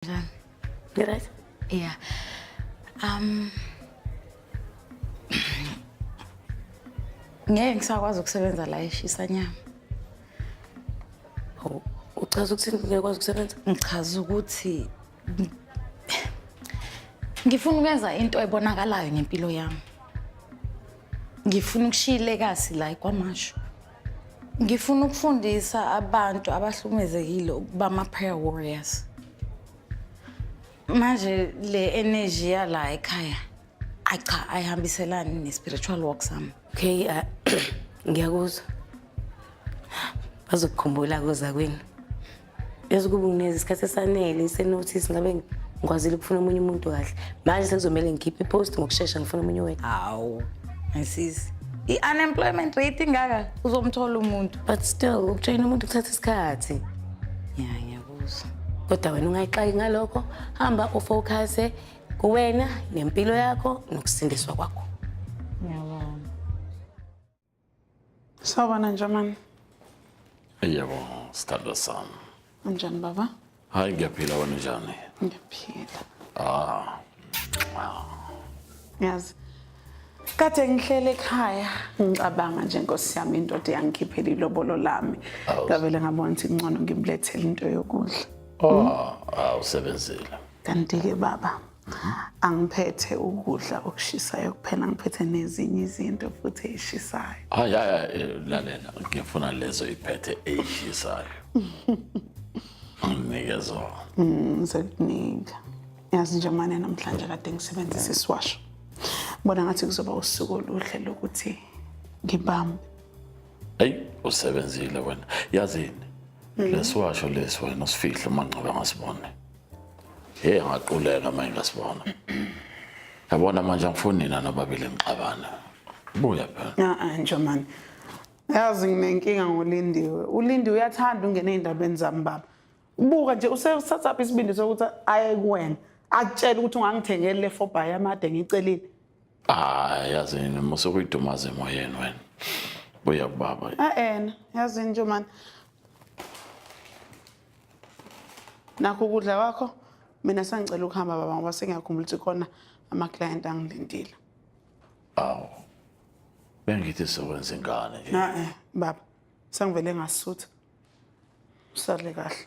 Njani? Ngiryt? Yeah. Um Ngeke ngisakwazi ukusebenza la eshisa nyama. Oh, uchaza ukuthi ngeke kwazi ukusebenza? Ngichaza ukuthi ngifuna ukwenza into ebonakalayo ngempilo yami. Ngifuna ukushiyile kasi la kwamasho. Ngifuna ukufundisa abantu abahlumezekile ukuba ama-prayer warriors. Manje le energy yala ekhaya ayi cha ayihambiselani ne-spiritual walk sami. Okay, uh, ngiyakuzwa. Bazokukhumbula kuza kwini. yazi kuba ngineza isikhathi esanele senothisi ngabe ngikwazile ukufuna omunye umuntu kahle manje sekuzomele ngikhiphe ipost ngokushesha ngifuna omunye wethu hawu ngisisi i-unemployment rate ingaka uzomthola umuntu but still ukujoyina umuntu kuthatha isikhathi ya ngiyakuzwa kodwa wena ungayixaki ngalokho hamba ufocuse kuwena nempilo yakho nokusindiswa kwakho Sawubona Njamani. Yebo, sithanda sami. Unjani baba? Hayi ngiyaphila wena njani? Ngiyaphila. Ah. Yazi. Kade ngihlele ekhaya ngicabanga nje Nkosi yami indoda yangikhiphela ilobolo lami. Ngavele ngabona ukuthi ngcono ngimlethele into yokudla. Oh, awusebenzile. Kanti ke baba, angiphethe ukudla okushisayo kuphela ngiphethe nezinye izinto futhi eyishisayo hayi hayi eh, lalela ngifuna lezo iphethe eyishisayo nginike zona ngizokunika mm, yazi nje mane namhlanje kade ngisebenzisa isiwasho bona ngathi kuzoba usuku oluhle lokuthi ngibambe eyi usebenzile wena yazini mm. lesiwasho lesi wena usifihle uma ncobe ngasibone Hey ngaquleka manje ngasibona. Yabona manje angifuni nina nobabili ngixabana. Buya phela. Ah ah Njomani. Yazi nginenkinga ngoLindiwe. ULindiwe uyathanda ungena ezindabeni zami baba. Ubuka nje usesatsa isibindi sokuthi aye kuwena. Akutshela ukuthi ungangithengele le four by amade ngicelile. hayi yazi yini mose kuyidumaza emoyeni wena buya kubaba a-ena yazi yini nje mani nakho ukudla kwakho mina sangicela ukuhamba baba ngoba sengiyakhumbula ukuthi khona ama-client angilindile awu bengithi sokwenza ingane nje na-e baba sengivele ngasutha usale kahle